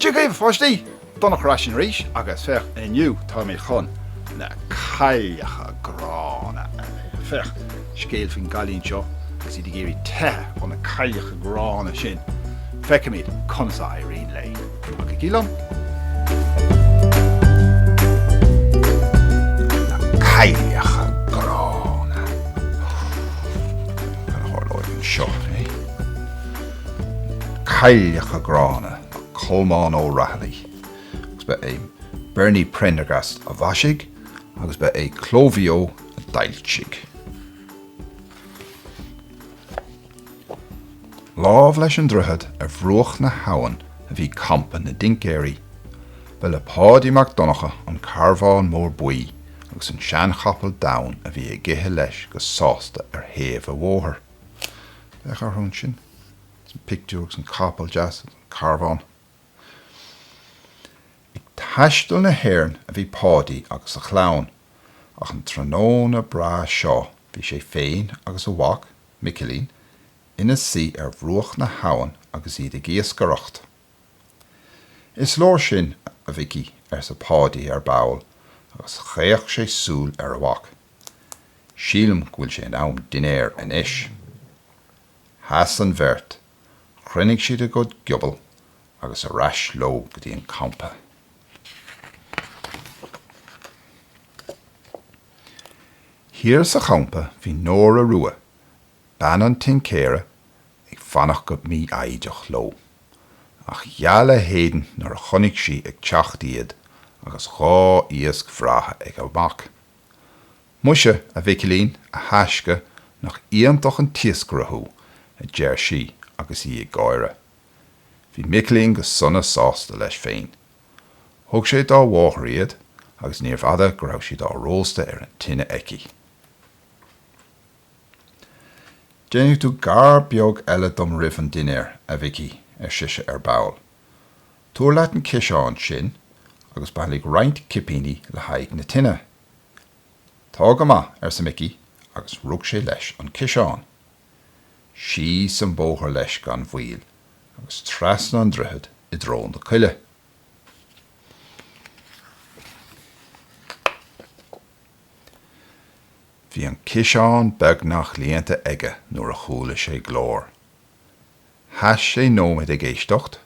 Tiocfaidh a pháistí don Aicearra arís agus féach inniu táimid chun na cailleacha gránna a léamh. Scéal faoin gcailín seo agus í ag iarraidh teitheadh ó na cailleacha gránna sin. Feicimid conas a éiríonn léi. Cailleacha Gránna, Colmán Ó Raghallaigh, agus ba é Bernie Prendergast a mhaisigh agus ba é Cló Mhaigh Eo a d'fhoilsigh. Lámh leis an droichead ar bhruach na habhann a bhí campa na dtincéirí. Ba le Páidí Mac Donncha an carbhán mór buí agus an seanchapall donn a bhí ag ithe leis go sásta ar thaobh a' bhóthair. Féach orthu ansin sa phictiúr agus an capall deas, an carbhán. Ag taisteal na hÉireann a bhí Páidí agus a chlann, ach an tráthnóna breá seo bhí sé féin agus a mhac, Micilín ina suí ar bhruach na habhann agus iad ag iascaireacht. Is leor sin, a Mhicí, arsa Páidí ar ball agus chaoch sé súil ar a mhac. Sílim go bhfuil sé in am dinnéir anois. Sheas an bheirt, chruinnigh siad a gcuid giuirléidí agus ar ais leo go dtí an campa. Thiar sa champa bhí Nóra Rua, bean an tincéara, ag fanacht go mífhoighdeach leo. Ach gheal a héadan nuair a chonaic sí ag teacht iad agus dhá iasc bhreátha ag a mac. Muise, a Mhicilín, a thaisce, nach iontach an t-iascaire thú, a deir sí agus í ag gáire. Bhí Micilín go sona sásta leis féin. Thug sé dá mháthair iad agus níorbh fhada go raibh siad á róstadh ar an tine aici. Déanfaidh tú gar beag eile dom roimh an dinnéar, a Mhicí, ar sise ar ball. Tabhair leat an ciseán sin agus bailigh roinnt cipíní le haghaidh na tine. Tá go maith, arsa Micí agus rug sé leis an ciseán. Síos an bóthar leis gan mhoill agus trasna an droichead i dtreo na coille. Bhí an ciseán beagnach líonta aige nuair a chuala sé glór. Sheas sé nóiméad ag éisteacht,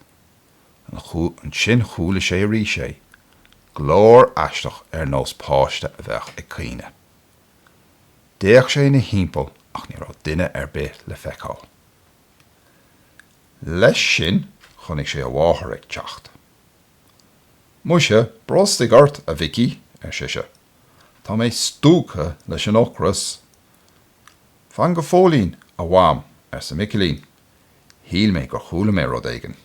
ansin chuala sé arís é, glór aisteach ar nós páiste a bheadh ag caoineadh. D'fhéach sé ina thimpeall ach ní raibh duine ar bith le feiceáil. Leis sin chonaic sé a mháthair ag teacht. Muise, brostaigh ort, a Mhicí, ar sise, tá mé stiúgtha leis an ocras. Fan go fóillín, a Mham, arsa Micilín, shíl mé gur chuala mé rud éigin.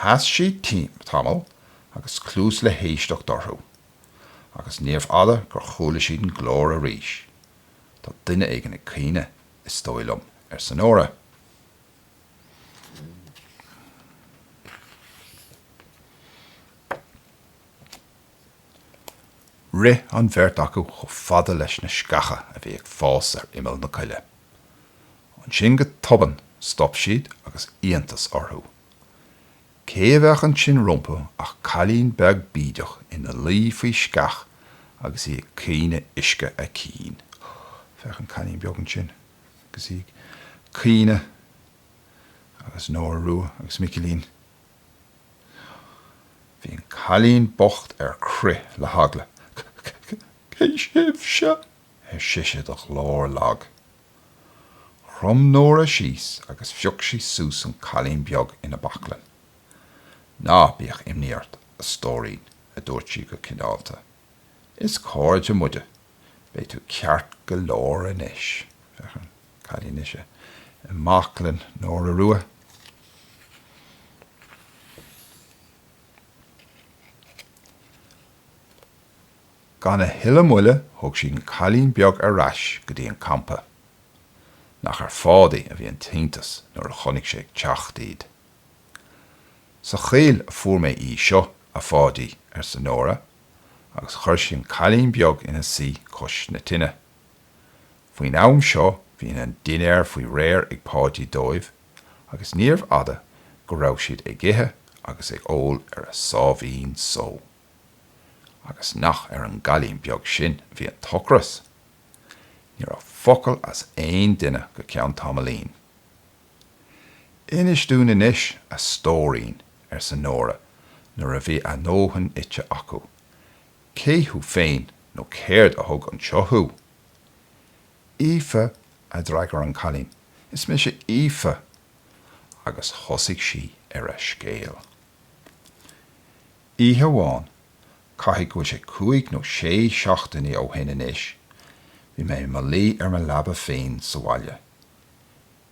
Sheas siad tamall agus cluas le héisteacht orthu, agus níorbh fhada gur chuala siad an glór arís. Tá duine éigin ag caoineadh, is dóigh liom, arsa Nóra. Rith an bheirt acu chomh fada leis na sceacha a bhí ag fás ar imeall na coille. Ansin go tobann stop siad agus iontas orthu. Cé a bheadh ansin rompu ach cailín beag bídeach ina luí faoi sceach agus í ag caoineadh uisce a cinn. Féach an cailín beag ansin agus í ag caoineadh agus Nóra Rua agus Micilín. Bhí an cailín bocht ar crith le heagla. Cé sibhse? ar sise de ghlór lag. Chrom Nóra síos agus phioc sí suas an cailín beag ina baclainn. Ná bíodh imní ort, a stóirín, a dúirt sí go cineálta. Is cairde muide. Beidh tú ceart go leor anois. Féach an cailín anois i mbaclainn Nóra Rua. Gan a thuilleadh moille thug siad an cailín beag ar ais go dtí an campa. Nach ar Pháidí a bhí an t-iontas nuair a chonaic sé ag teacht iad. Sa choill a fuair mé í seo, a Pháidí, arsa Nóra. agus chuir sí an cailín beag ina suí cois na tine. Faoin am seo bhí an dinnéar faoi réir ag Páidí dóibh agus níorbh fhada go raibh siad ag ithe agus ag ól ar a sáimhín só. Agus nach ar an gcailín beag sin a bhí an t-ocras! Ní raibh focal as aon duine go ceann tamaillín. Inis dúinn anois, a stóirín, arsa Nóra nuair a bhí a ndóthain ite acu. Cé thú féin nó céard a thug anseo thú? Aoife, a d'fhreagair an cailín, is mise Aoife. Agus thosaigh sí ar a scéal. Oíche amháin, caithfidh go bhfuil sé cúig nó sé seachtainí ó shin anois, bhí mé i mo luí ar mo leaba féin sa bhaile.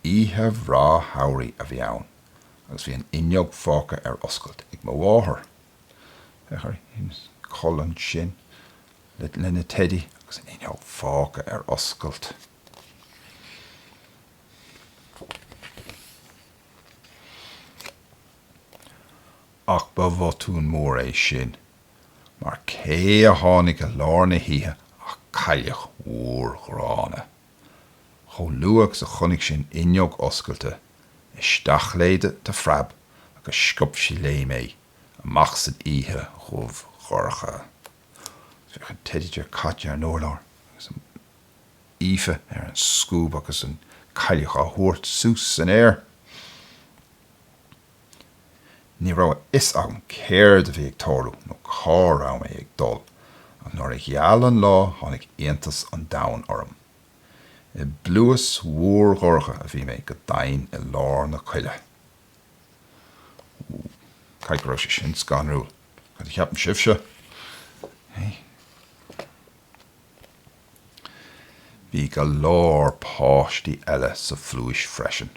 Oíche bhreá shamhraidh a bhí ann agus bhí an fhuinneog fágtha ar oscailt ag mo mháthair. Féach ar Aoife ansin lena teidí agus an fhuinneog fágtha ar oscailt. Ach ba bhotún mór é sin mar cé a tháinig i lár na hoíche ach cailleach mhór ghránna. Chomh luath agus a chonaic sí an fhuinneog oscailte, isteach léi de phreab agus sciob sí léi mé, amach san oíche dhubh dhorcha. Féach an teidí dearg caite ar an urlár agus Aoife ar an scuab agus an chailleach á tabhairt suas san aer. Ní raibh a fhios agam céard a bhí ag tarlú nó cá raibh mé ag dul, ach nuair a gheal an lá tháinig iontas an domhain orm. I bpluais mhór dhorcha a bhí mé, go domhain i lár na coille. Wúúú. Caithfidh go raibh sé sin scanrúil, cad a cheapann sibhse? Bhí go leor páistí eile sa phluais freisin.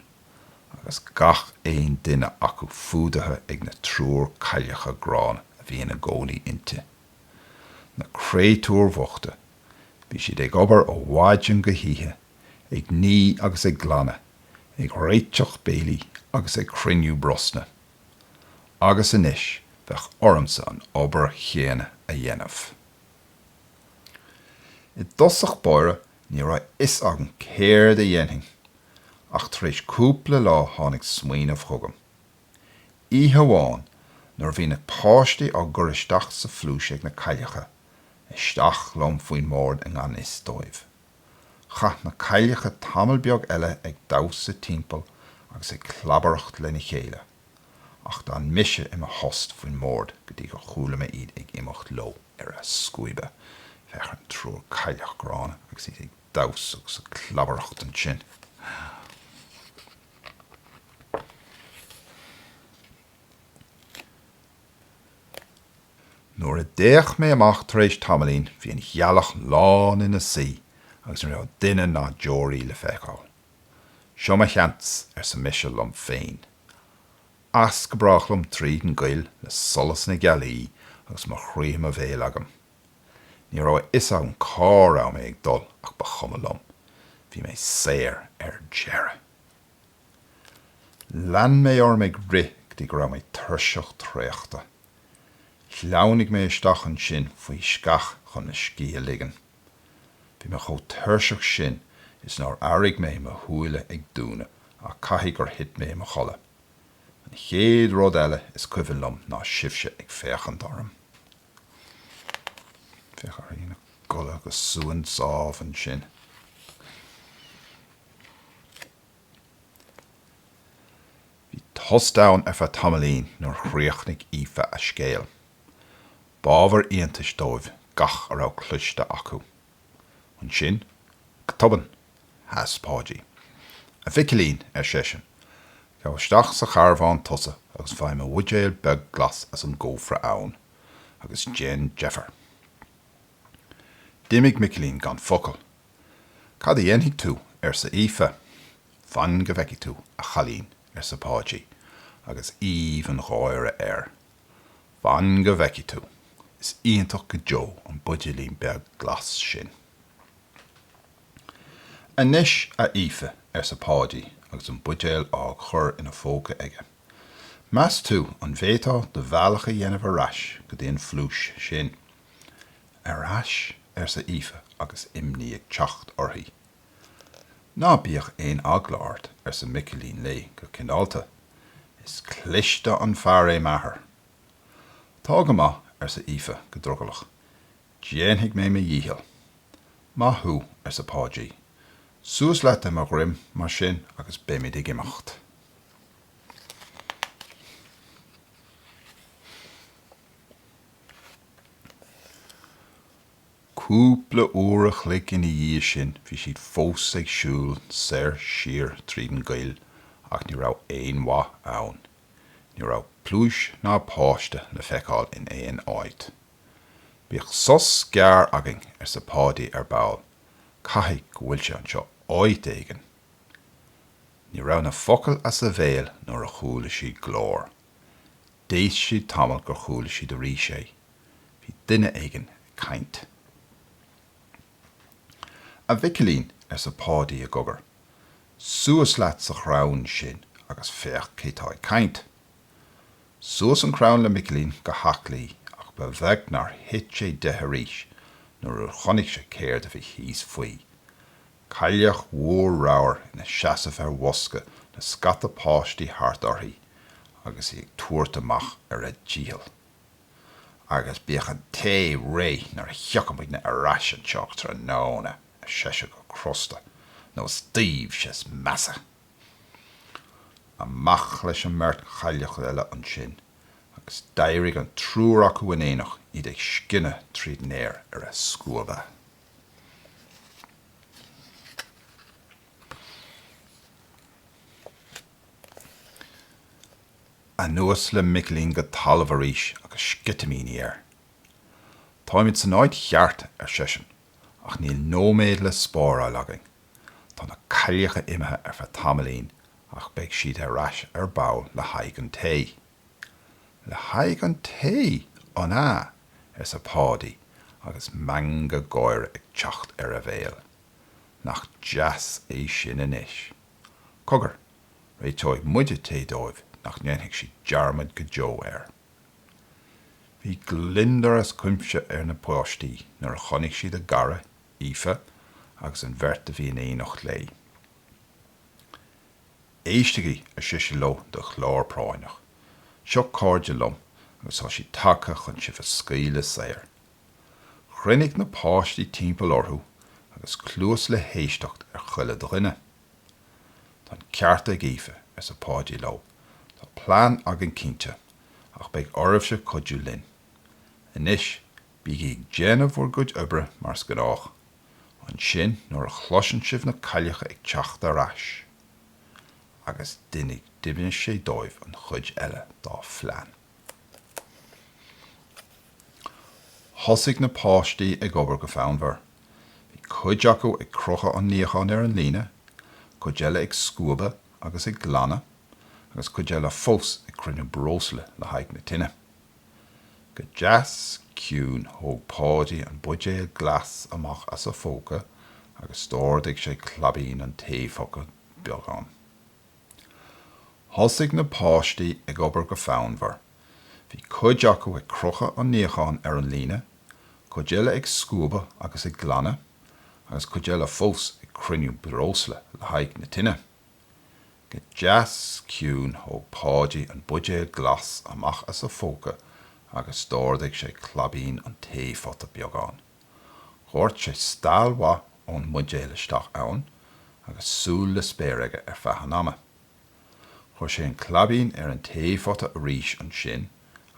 agus gach aon duine acu fuadaithe ag an triúr cailleach gránna a bhí ina gcónaí inti. Na créatúir bhochta, bhí siad ag obair ó mhaidin go hoíche, ag ní agus ag glanadh, ag réiteach béilí agus ag cruinniú brosna. Agus anois bheadh ormsa an obair chéanna a dhéanamh. I dtosach báire Ní raibh fhios agam céard a dhéanfainn ach tar éis cúpla lá tháinig smaoineamh chugam. Oíche amháin nuair a bhí na páistí á gcur isteach sa phluais ag na cailleacha, isteach liom faoin mbord i ngan fhios dóibh. Chaith na cailleacha tamall beag eile ag damhsa timpeall agus ag clabaireacht lena chéile. ach d'fhan mise i mo thost faoin mbord go dtí gur chuala mé iad ag imeacht leo ar a scuaba. Féach, an triúr cailleach gránna agus iad ag damhsa agus ag clabaireacht ansin. Nuair a d'fhéach mé amach tar éis tamaillín, bhí an ghealach lán ina suí agus ní raibh duine ná deoraí le feiceáil. Seo mo sheans, arsa mise liom féin. As go brách liom tríd an gcoill le solas na gealaí agus mo chroí i mo bhéal agam. Ní raibh a fhios agam cá raibh mé ag dul ach ba chuma liom, bhí mé saor ar deireadh! Lean mé orm ag rith go dtí go raibh mé tuirseach traochta. Shleamhnaigh mé isteach ansin faoi sceach chun mo scíth a ligean. Bhí mé chomh tuirseach sin is nár airigh mé mo shúile ag dúnadh ach caithfidh gur thit mé i mo chodladh. An chéad rud eile is cuimhin liom ná sibhse ag féachaint orm i mo chodladh go suan sámh ansin. Bhí tost ann ar feadh tamaillín nuair a chríochnaigh Aoife a scéal. B'ábhar iontais dóibh gach a raibh cloiste acu. Ansin, go tobann, sheas Páidí. A Mhicilín, ar seisean, gabh isteach sa charbhán tusa agus faigh mo bhuidéal beag glas as an gcófra ann, agus déan deifir. D'imigh Micilín gan focal. Cad a dhéanfaidh tú? arsa Aoife. Fan go bhfeicfidh tú, a chailín, arsa Páidí, agus aoibh an gháire air. Fan go bhfeicfidh tú. Is iontach go deo an buidéilín beag glas sin. Anois, a Aoife, arsa Páidí agus an buidéal á chur ina phóca aige, meas tú an bhféadfá do bhealach a dhéanamh ar ais go dtí an phluais sin? Ar ais? arsa Aoife agus imní ag teacht uirthi. Ná bíodh aon eagla ort, arsa Micilín léi go cineálta. Is cliste an fear é m'athair. Tá go maith, arsa Aoife go drogallach. Déanfaidh mé mo dhícheall. Maith thú, arsa Páidí. Suas leat ar mo dhroim mar sin agus beimid ag imeacht. Cúpla uair a chloig ina dhiaidh sin bhí siad fós ag siúl soir siar tríd an gcoill ach ní raibh aon mhaith ann. Ní raibh pluais ná páiste le feiceáil in aon áit. Bíodh sos gearr againn, arsa Páidí ar ball, caithfidh go bhfuil sé anseo áit éigin. Ní raibh na focail as a bhéal nuair a chuala siad glór. D'éist siad tamall gur chuala siad arís é. Bhí duine éigin ag caint. A Mhicilín, arsa Páidí i gcogar, suas leat sa chrann sin agus féach cé tá ag caint. Suas an crann le Micilín go haclaí ach ba bheag nár thit sé de arís nuair a chonaic sé céard a bhí thíos faoi. cailleach mhór ramhar ina seasamh ar bhosca le scata páistí thart uirthi agus í ag tabhairt amach ar a dícheall. Agus bíodh an tae réidh nuair a thiocfaimidne ar ais anseo tráthnóna, ar sise go crosta, nó is daoibhse is measa. Amach leis an mbeirt chailleach eile ansin, agus d'éirigh an triúr acu in éineacht, iad ag scinneadh tríd an aer ar a scuaba. Anuas le Micilín go talamh arís agus sceitimíní air. Táimid san áit cheart, ar seisean, ach níl nóiméad le spáráil againn. Tá na cailleacha imithe ar feadh tamaillín ach beidh siad ar ais ar ball le haghaidh an tae. Le haghaidh an tae, an ea? arsa Páidí agus meangadh gáire ag teacht ar a bhéal. Nach deas é sin anois! Cogar, réiteoidh muide tae dóibh nach ndéanfaidh siad dearmad go deo air. Bhí gliondar as cuimse ar na páistí nuair a chonaic siad a gcara, Aoife, agus an bheirt a bhí in éineacht léi. Éistigí, ar sise leo de ghlór práinneach. Seo cairde liom agus tá siad tagtha chun sibh a scaoileadh saor. Chruinnigh na páistí timpeall orthu agus cluas le héisteacht ar chuile dhuine. Tá an ceart ag Aoife, arsa Páidí leo, tá plean againn cinnte, ach beidh oraibhse cuidiú linn. Anois, bígí ag déanamh bhur gcuid oibre mar is gnách. ansin nuair a chloiseann sibh na cailleacha ag teacht ar ais. Agus d'inis d'inis sé dóibh an chuid eile dá phlean. Thosaigh na páistí ag obair go fonnmhar. Bhí cuid acu ag crochadh an níocháin ar an líne, cuid eile ag scuabadh agus ag glanadh, agus cuid eile fós ag cruinniú breosla le haghaidh na tine. Go deas ciúin thóg Páidí an buidéal glas amach as a phóca agus d'ardaigh sé claibín an taephota beagán. Thosaigh na páistí ag obair go fonnmhar. Bhí cuid acu ag crochadh an níocháin ar an líne, cuid eile ag scuabadh agus ag glanadh, agus cuid eile fós ag cruinniú breosla le haghaidh na tine. Go deas ciúin thóg Páidí an buidéal glas amach as a phóca agus d'ardaigh sé claibín an taephota beagán. Dhoirt sé steall mhaith ón mbuidéal isteach ann agus súil le spéir aige ar feadh an ama. Chuir sé an claibín ar an taephota arís ansin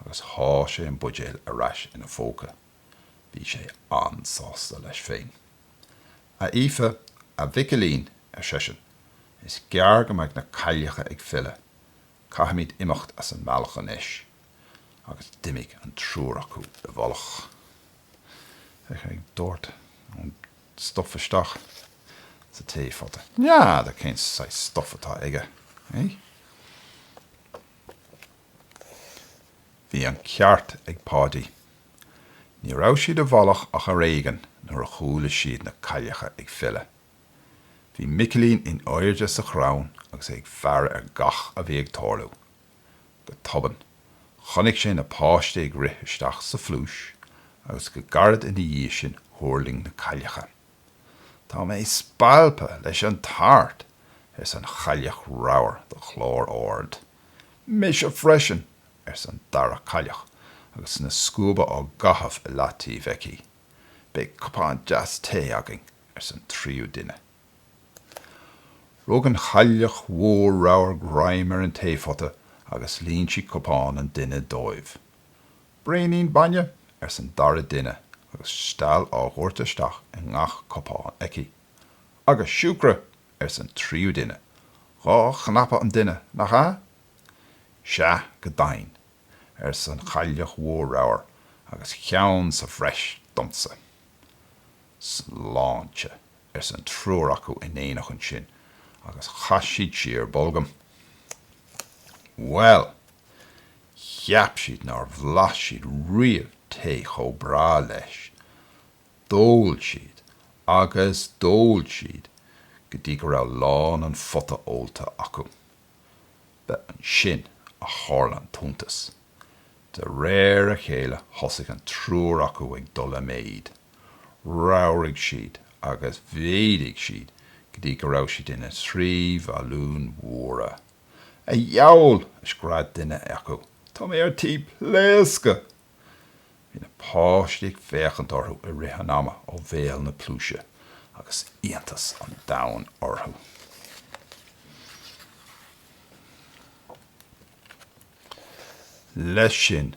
agus sháigh sé an buidéal ar ais ina phóca. Bhí sé an-sásta leis féin. A Aoife, a Mhicilín, ar seisean, is gearr go mbeidh na cailleacha ag filleadh, caithfimid imeacht as an mbealach anois. Agus d'imigh an triúr acu i bhfolach. Tá sé ag doirteadh an stuif isteach sa taephota. N'fheadar cén saghas stuif atá aige, eh? Bhí an ceart ag Páidí. Ní raibh siad i bhfolach ach ar éigean nuair a chuala siad na cailleacha ag filleadh. Bhí Micilín in airde sa chrann agus é ag faire ar gach a bhí ag tarlú. Go tobann, chonaic sé na páistí ag rith isteach sa phluais agus go gairid ina dhiaidh sin thuirling na cailleacha. Tá mé spalptha leis an tart! arsa an chailleach ramhar de ghlór ard. Mise freisin! arsa an dara cailleach agus na scuaba á gcaitheamh i leataobh aici. Beidh cupán deas tae againn! arsa an tríú duine. Rug an chailleach mhór ramhar greim ar an taephota agus líon sí cupán an duine dóibh. Braonín bainne? arsa an dara duine agus steall á dhoirteadh isteach i ngach cupán aici. Agus siúcra! arsa an tríú duine. Dhá chnap an duine, nach ea? Sea, go deimhin, arsa an Chailleach Mhór Ramhar, agus ceann sa bhreis domsa. Sláinte! arsa an triúr acu in éineacht ansin, agus chaith siad siar bolgam. Bhuel! Cheap siad nár bhlas siad riamh tae chomh breá leis. D'ól siad agus d'ól siad go dtí go raibh lán an phota ólta acu. Ba ansin a tharla an t-iontas. De réir a chéile thosaigh an triúr acu ag dul i méid. Ramhraigh siad agus mhéadaigh siad go dtí go raibh siad ina dtrí bhalún mhóra. A dhiabhail! a scread duine acu, tá mé ar tí pléascadh! Bhí na páistí ag féachaint orthu i rith an ama ó bhéal na pluaise agus iontas an domhain orthu. Leis sin,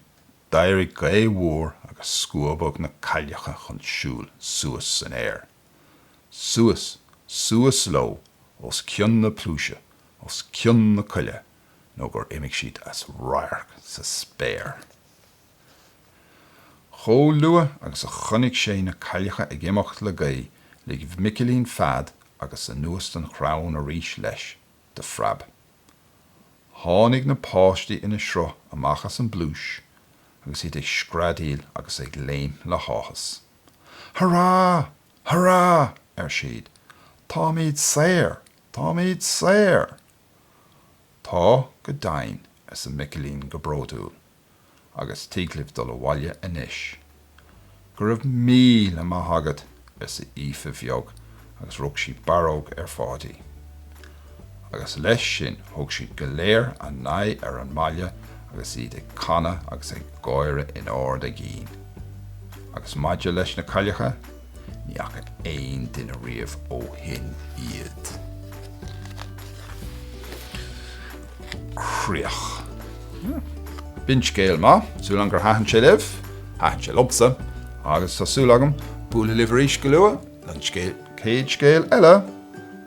d'éirigh gaoth mhór agus scuabadh na cailleacha chun siúil suas san aer. Suas, suas leo os cionn na pluaise, os cionn na coille nó gur imigh siad as radharc sa spéir. Chomh luath agus a chonaic sé na cailleacha ag imeacht le gaoth, lig Micilín fead agus anuas den chrann arís leis, de phreab. Tháinig na páistí ina sruth amach as an bpluais agus iad ag screadaíl agus ag léim le háthas. Hurá! Hurá! ar siad. Táimid saor! Táimid saor! Tá, go deimhin, arsa Micilín go bródúil, agus tig libh dul abhaile anois. Go raibh míle maith agat, arsa Aoife bheag agus rug sí barróg ar Pháidí. Agus leis sin thug siad go léir a n-aghaidh ar an mbaile agus iad ag canadh agus ag gáire in ard a gcinn. Agus maidir leis na cailleacha? Ní fhaca aon duine riamh ó shin iad. Críoch. B'in scéal maith. Súil agam gur thaitin sé libh. Thaitin sé liomsa. Agus tá súil agam bualadh libh arís go luath don chéad scéal eile!